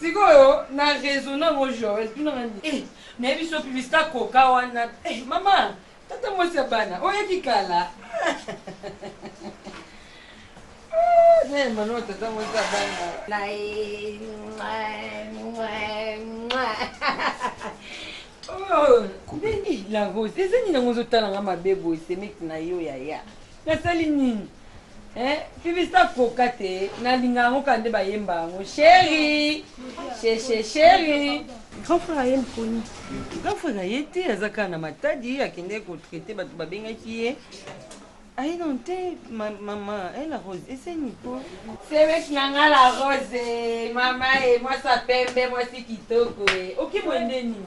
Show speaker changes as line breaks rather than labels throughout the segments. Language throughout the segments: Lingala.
Sikoyo na raison na ngo Joël tuna nga nini eh na yebi so publicité ya coca wana eh mama tata mwasi ya bana oyo yaki kala ne mano tata mwasi ya bana na ye ndenge la rose ezangi nango ozotala nga mabe boye semeki na yo yaya nasali nini Eeh publicite akoka te na linga yango kaka nde bayemba yango cheri cheche cheri. Grand frère aye mponi. Grand frère aye te aza kaka na matadi akendaki ko traite batu babengaki ye aye nanu te ma maman eh la rose esenyi po. Semeki na nga la rose eh mama eh mwasi ya pembe mwasi kitoko eh oki boye nde nini.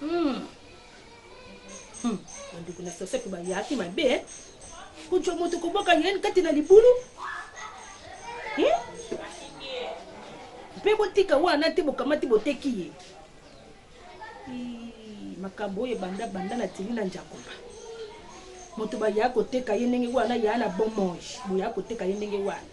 Hmm. Hmm. Bandeko na sasaki bayaki mabe eh? kojwa moto koboka yeni kati na libulu hmm? mpe botika wana te bokamati boteki ye makambo oyo ebanda banda na tili na njakoba moto baya koteka ye ndenge wana yaa na bomoi boya koteka ye ndenge wana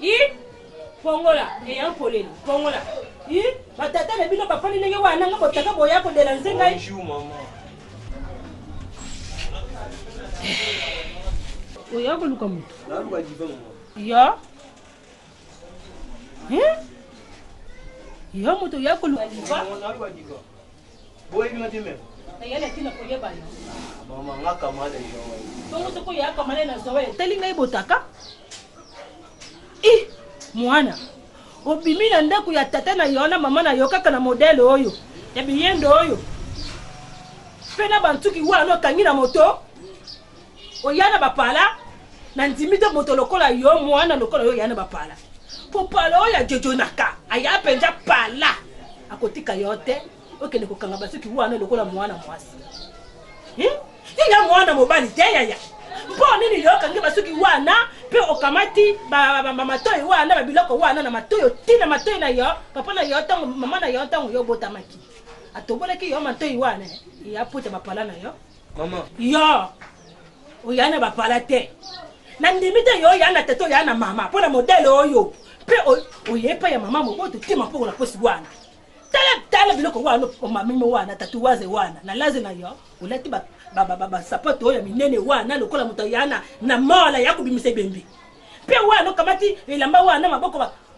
i pongola eya mpolela pongola i batata na bino bafandi ndenge wana nga botaka boya kolela nze ngai oya koluka moto
yo
yo moto oya koluka
Boyebi
nga te
mère. Nayali atina koyeba yo. Ah, mama
nga kamale Joël. Bongo soko ya kamale na Joël. Tali ngai botaka. I mwana obimi na ndako ya tata na yo na mama na yo kaka na modele oyo ya biyendo oyo mpe na bantuki wana okangi na moto oya na bapala nandimi te moto lokola yo mwana lokola yo oya na bapala mpo pala oyo ajojonaka aya mpenza pala akotika yo te okende kokanga basuki wana lokola mwana mwasi hmm? yaya mwana mobali te yaya mpo nini yo okangi basuki wana mpe okamati matoi wana babiloko wana na matoi otina matoi na yo papa na yo ntango mama na yo ntango yo obotamaki atobolaki yo matoi wana ya pota bapala na yo Maman. Yo. Oya na bapala te. Na ndimi te yo oya na tete oya na mama mpo na modele oyo mpe oye epai ya mama moboto tima mpo na posi wana tala tala biloko wana omamimi wana tatuwaze wana na laze na yo olati basapato oyo ya minene wana lokola moto ayana na mola ya kobimisa ebembe mpe wana okamati elamba wana maboko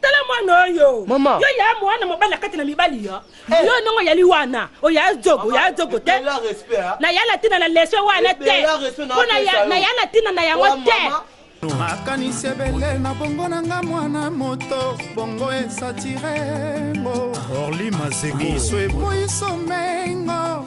tala mwana oyo Maman. yo ya mwana
mobali
akati na mibali yo Eh. yo ndongo yali wana oya zogo oya zogo te Ebela respect, ah. na ya
latina na leso
wana te Ebela respect na mpo na apesa ya- yo. na ya latina na yango Oa te mama. makanisi ebele
na bongo na nga mwana moto bongo esatire ngo orli
mazeko miso eboyi
somengo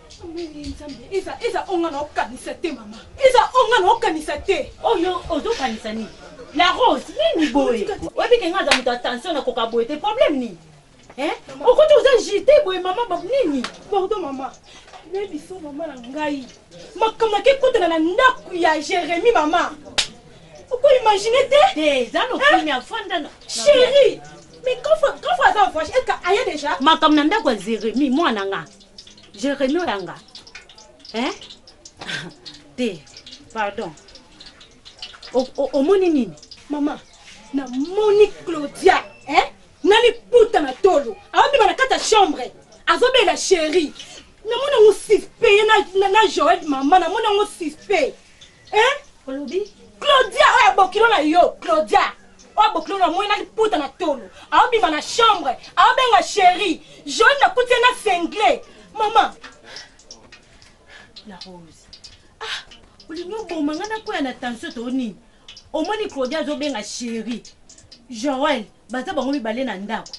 nzambe eza eza oyo nga naokanisa te mama eza oyo nga naokanisa te oyo oh, ozokanisa
nini la rose nini boye oyebi ke nga aza moto ya tension nakoka boye te problème nini eh? okoti oza jete boye mama bab nini pardon mama
nayebiso mama na ngai makambo yake ekotana na ndako ya jérémi mama okoimagine te eza nokimi
afanda chéri
mais kafa aza voyage eka aya déjà makambo na ndako ya jérémi
mwana nga Jeremy oyanga hein? te pardon omoni nini mama
namoni claudia eh? na liputa na tolo aobima na kati ya chambre azobela sheri namoni yango suspect ye na joel mama namoni yango suspect eh
olobi claudia
oyo abokilo na yo claudia oyo abokilo na moi na liputa na tolo aobima na chambre aobenga sheri joli nakuti ye na sengle mama
la rose ah olingi oboma ngai nakwea na tension to nini omoni claudia azobenga sheri joel baza bango mibale na ndako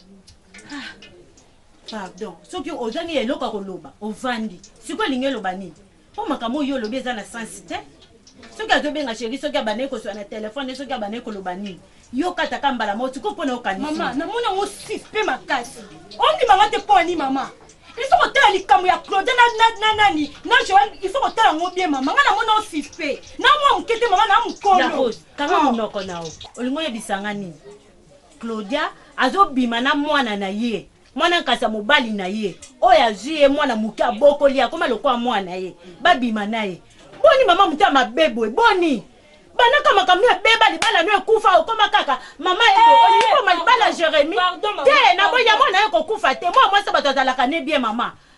ah, pardon soki ozangi eloko ya koloba ovandi sikoyo elingi eloba nini Po makambo oyo yo olobi eza na sens te. Soki azo benga cherie, soki abandaki ko swana telephone, soki abandaki ko loba nini. Yo kata ka mbala moko, sikoyo pona yo okanisi nini? Maman, namoni yango
suspect makasi. Ondima nga te pona nini maman? Il faut ko tala likambo ya Claude na na na nani? Na Joël, il faut ko tala yango bien maman. Nga namoni yango suspect. Na mwa muke te maman, na mukolo. La Rose, kanga oh.
munoko na yo. Olingi oyebisa nga nini? Claudia azo bima na mwana na ye. Mwana nkasa mobali na ye oyo azwi ye mwana moke abokoli akoma lokola mwana na ye babima na ye boni mama moto ya mabe boye boni banaka makambo no ebeba libala no ekufa okoma kaka mama ye eh, olingi koma libala jeremi te na boya mwana ye kokufa te mwa mwasi bato azalaka ne bien mama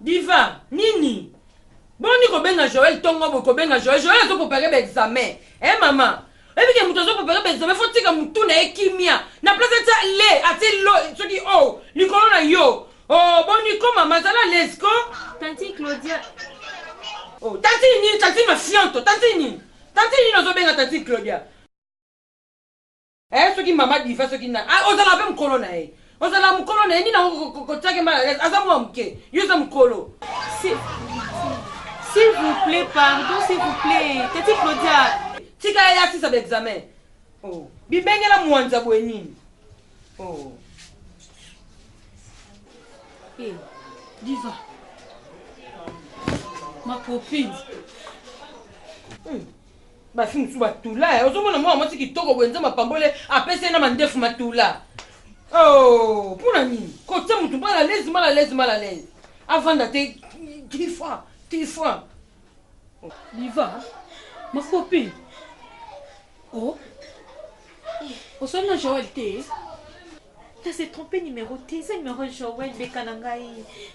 Diva nini boni kobenga Joël tongo boye kobenga Joël Joël azo préparer ba examen eh mama oyebi ke moto azo préparer ba examen faut tika motu na ye kimia na place atia le atie lo soki o oh, likolo na yo o oh, boni ko mama zala les ko tanti Claudia o oh, tanti nini tanti mafianto tanti nini tanti nini ozo benga tanti Claudia Eh soki mama diva soki na ah, ozala pe mukolo na ye ozala mukolo na ye nini yango kotiake mal à l'aise aza mwa moke yo oza mukolo
S'il vous plaît, pardon, s'il vous plaît. Tati Claudia. Tika ya asisa
ba examen. Oh. Bibengela mwanza boye nini? Oh. Hey,
Diva. Ma copine. Hmm.
Basi mosusu ba tula eh. Ozomona mwana mwasi kitoko boye nzambe apambole apesi ye na mandefu matula. Oh, mpona nini? Kotia motu mal à l'aise, mal à l'aise, mal à l'aise. Avanda te tifa, tifa.
Diva, ma copine. Oh. Osali na Joël te?
T'as se trompé numéro te, eza numéro Joël beka na ngai.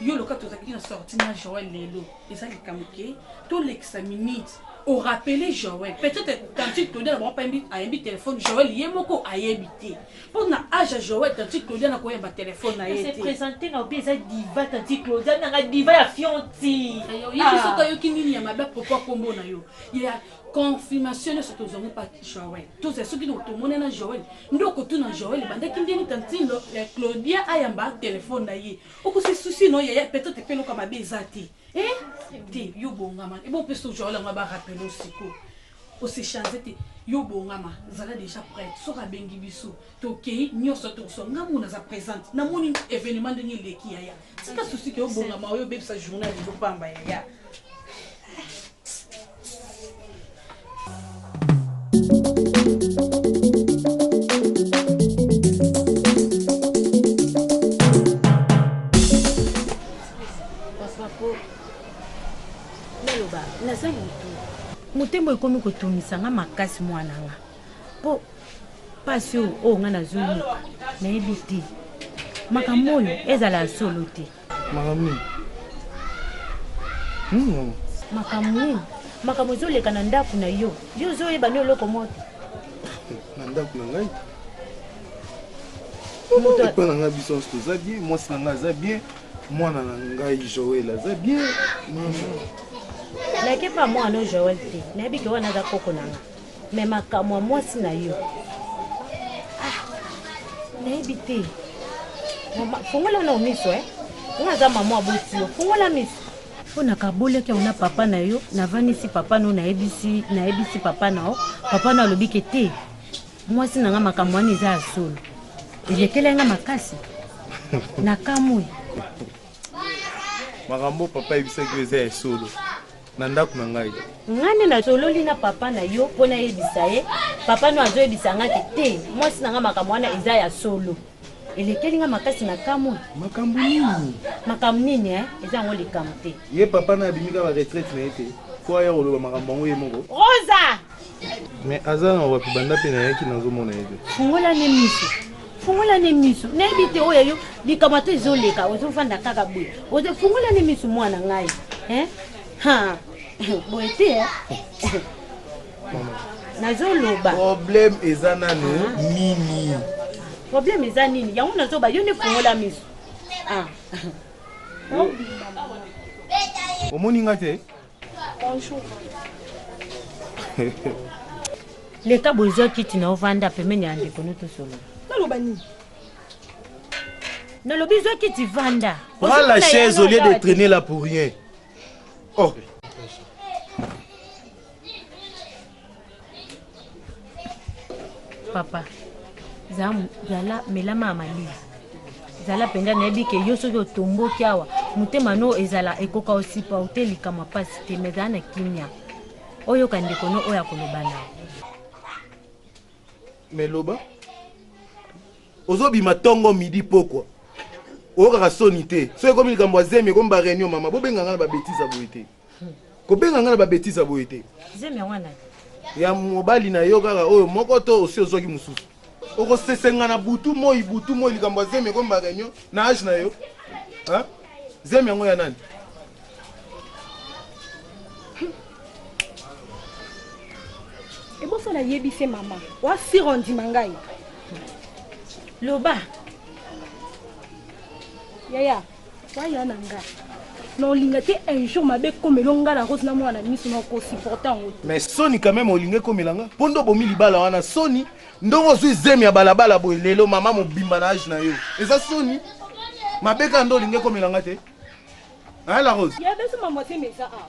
yo loka tozalaki na sorti na joel lelo eza likambo ke tolekisa minute orapele joel peut-être tantine claudia na bango ayembi telefone joel ye moko ayebi te mpo na age ya joel tantine claudia na koyemba telefone na ye te présente na obi
eza diva tantine claudia nanga diva ya fionti yesu soki
ayoki nini ya mabe apropo akombo na yo ya confirmation nyonso tozwango pa joel tozwa soki tomoni na joel nde okotuna joel ebandaki ndeni tantine claudia ayamba telefone na ye oko se souci no yaya peut être pe loka mabe eza te eh te yo bongama ebo pe so jola ngaba rappel osiko ose change te yo bongama zala déjà prête soka bengi biso tokei nyonso tokoso nga mona za présente na moni événement ndenge eleki yaya tika souci ke yo bongama oyo bebisa journal ezo pamba yaya
motema ekomi kotungisa nga makasi mwana nga mpo mpasi oyo oyo nga nazoyoka nayebi te makambo oyo ezala ya solo te makambo nini nini yango makambo nini makambo ezoleka na ndako na yo yo ozoyeba nde eloko moko te na
ndako na ngai epa na ngai biso nyonso toza bien mwasi na ngai aza bien mwana na ngai joel aza bien mama
nayeke mpa mwana oyo joel te nayebi ke wana aza koko na ngai Mais makambo ya mwasi na yo ah, nayebi te fongola na miso eh. nga aza mama aboti yo fongola miso mpo nakabolaki yango na papa na yo navandisi papa na yo nayebisi nayebisi papa na yo papa na alobi ke te mwasi na nga makambo wana eza ya solo elekeli nga makasi nakamwi
makambo papa ayebisaki yo eza ya solo Na ndaku na ngai. Nga nde na sololi
na papa na yo po na yebisa ye, papa no azo yebisa nga ke te mwasi na nga makambo wana eza ya solo. Elekeli nga makasi na kamwe. Makambo nini?
Makambo nini eh?
Eza yango likambo te. Ye papa naye abimi
kaka retraite na ye te po aya koloba makambo yango ye moko? Rosa!
Mais
aza na wapi banda pe nayaki nazomona ye te. Fungola ne miso.
Fungola ne miso. Nayebi te oyo yo likambo ata ezoleka ozofanda kaka boye. Ozo fungola ne miso mwana ngai. Hein? Ha. Boye te. Eh? Nazoloba. Problème eza
nanu ah. nini? Problème
eza nini? Yango nazoba yo ne fungola miso. Ah.
Omoni nga te? Bonjour.
Leka boye zwa kiti na ovanda pembeni ya ndeko no tosolola. Naloba nini? Nalobi zwa kiti vanda. Prends la chaise au
lieu de traîner là pour rien. Oh.
papa zala melama ya malili zala mpenza nayebi ke yo soki otomboki awa motema no ezala ekoka osipa ote likamwa mpasi te me zala na kimia oyoka ndeko no oyo akoloba na
me loba ozobima ntongo midi pokwa oyokaka soni te soki ekomi likambo ya zemi ekomi bareunion mama bobenga ngai na babetise ya boye te kobenga nga na ba betise boye te zemi yango nani
ya
mobali na yo kaka oyo moko to osi ozwaki mosusu okosesenga na butu moi butu moi likambo ya zemi ekombaka reunion na age na yo zemi yango ya nani
eboso nayebi se mama wasira ondima ngai loba yaya Waya na nga. Na olinga te un jour mabe komelo nga na rose na mwana miso na ko supporter ngo. Mais soni quand même olinga
komela nga. Pondo bomi libala wana soni. Ndongo zui zemi ya balabala boye lelo mama mobimba na age na yo. Eza soni. Mabe ka ndo olinga komela nga te. Hein la rose? Ya beso maman te meza
ah.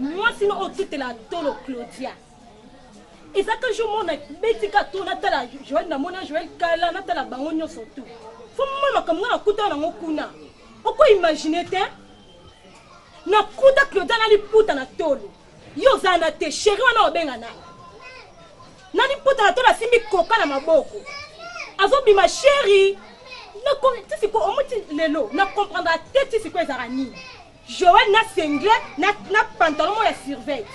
mwasi no otutela tolo claudia eza ka jour mona betika to natala joel namona joel kala natala bango nyonso tu fo mona makambo nga nakutana nango kuna okoimagine te nakuta claudia na liputa na tolo yo oza na te sheri wana obenga na na liputa na tolo asimbi koka na maboko azobima sheri tisiko omuti lelo na comprendra te tisiko ezalaka nini joel na sengle na, na pantalon mo ya surveille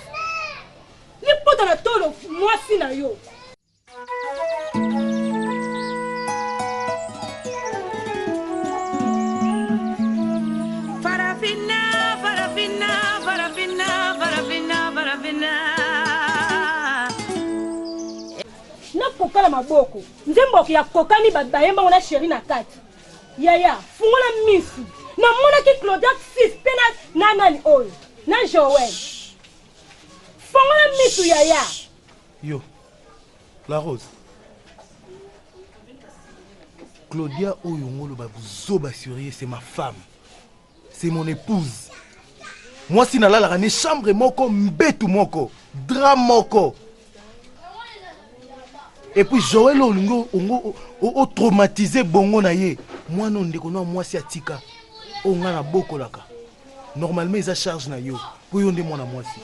liputa na tolo mwasi na yo kokala maboko nzembo ya kokani bayembango na sheri na kati yaya fungola misu namonaki claudiak sis mpe na nani oyo na joel fungola misu yaya Yo,
la rose. Claudia oyo ngolo ba buzoba surier, c'est ma femme. C'est mon épouse. Moi si nalalaka ne chambre moko mbetu moko, drap moko. Et puis Joël olingo ongo o traumatiser bongo na ye. Mwana ndeko na mwasi atika. Onga na bokolaka. normalement eza charge na yo mpo yo nde mwana mwasi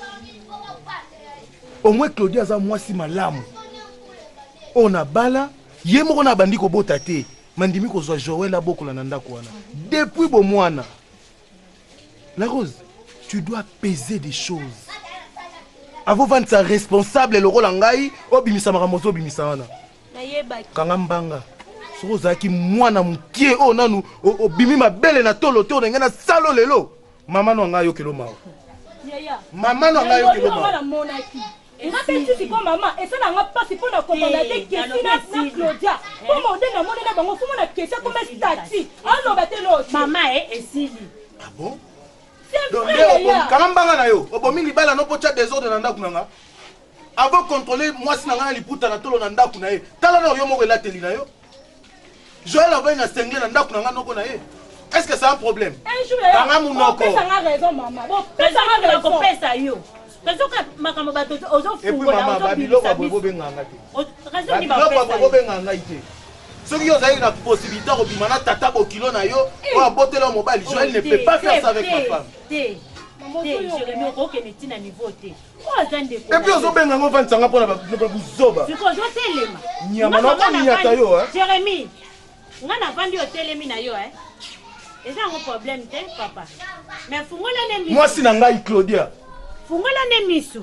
omwe claudia aza mwasi malamu oyo na bala ye moko na abandi kobota te mandimi kozwa joel abokola na ndako wana depuis bomwana la rose tu dois peser des choses avovandisa responsable lokola ngai obimisa makambo ozobimisa wana
kanga mbanga
soki ozalaki mwana mokie oyo nanu obimi mabele na tolo te olingi na salo lelo mama no anga ayokelo mawa
mama
no anga ayokelo
mawa
nga
mpe nsusu mpo mama esala nga mpasi mpo na kobanda te kesi na claudia mpo mode na moni na bango fomona kesi akoma stati aloba te loti mama e esili
ah bon
kanga
mbanga na
yo
obomi libala no mpo tya desordre na ndako na nga Ako controle mwasi na ngai na liputa na tolo na ndaku na ye. Tala na yo moko elateli na yo. Joël avai na sengle na ndaku na ngai noko na ye. Est-ce que c'est un problème? Un jour, kanga
munoko. Pesa nga
raison maman.
Bon, pesa nga raison. Ko
pesa
yo.
Raison ka makambo bato ozo fungola. Et puis maman, ba biloko
ba bobo benga nga te. Raison ni ba pesa. Ba
biloko ba bobo benga nga
te. soki yo ozalaki na possibilité akobima na tata bokilo na yo eh. oyo abotela yo mobali joel ne peut pas faire ça avec ma femme okende ntina
niveau te epuis
ozobenga ngo vandisa nga mpona buzoba nyama nakominyata yo jeremi
nga navandi otelemi
na yo eh. eza yango
problème te papa mais fungola ne misu mwasi na ngai claudia
fungola ne
misu